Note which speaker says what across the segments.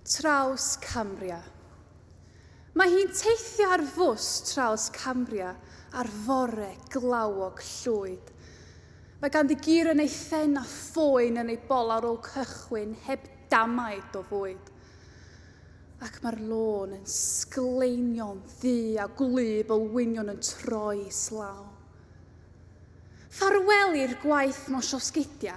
Speaker 1: Trawscambria. Mae hi'n teithio ar fws Trawscambria ar fore glawog llwyd. Mae ganddi gur yn ei phen a phoen yn ei bol ar ôl cychwyn heb damaid o fwyd. Ac mae'r lôn yn sgleinio'n ddu a gwlyb olwynion yn troi islaw. Ffarwel i'r gwaith mosiosgidia.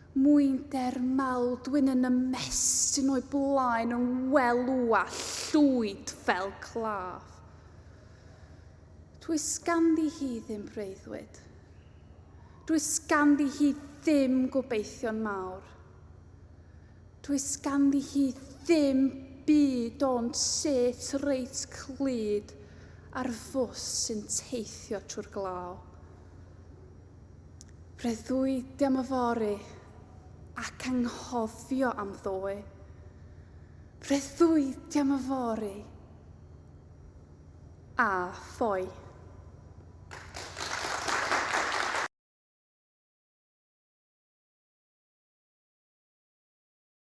Speaker 1: Mwynder mawr dwyn yn ymestyn o'i blaen yng ngwelw a llwyd fel claf. Does ganddi hi ddim breuddwyd. Does ganddi hi ddim gobeithion mawr. Does ganddi hi ddim byd ond set reit clyd ar fws sy'n teithio trwy'r glaw. Breuddwydio am y fory ac anghofio am ddoe. Breuddwydio am y fory a ffoi.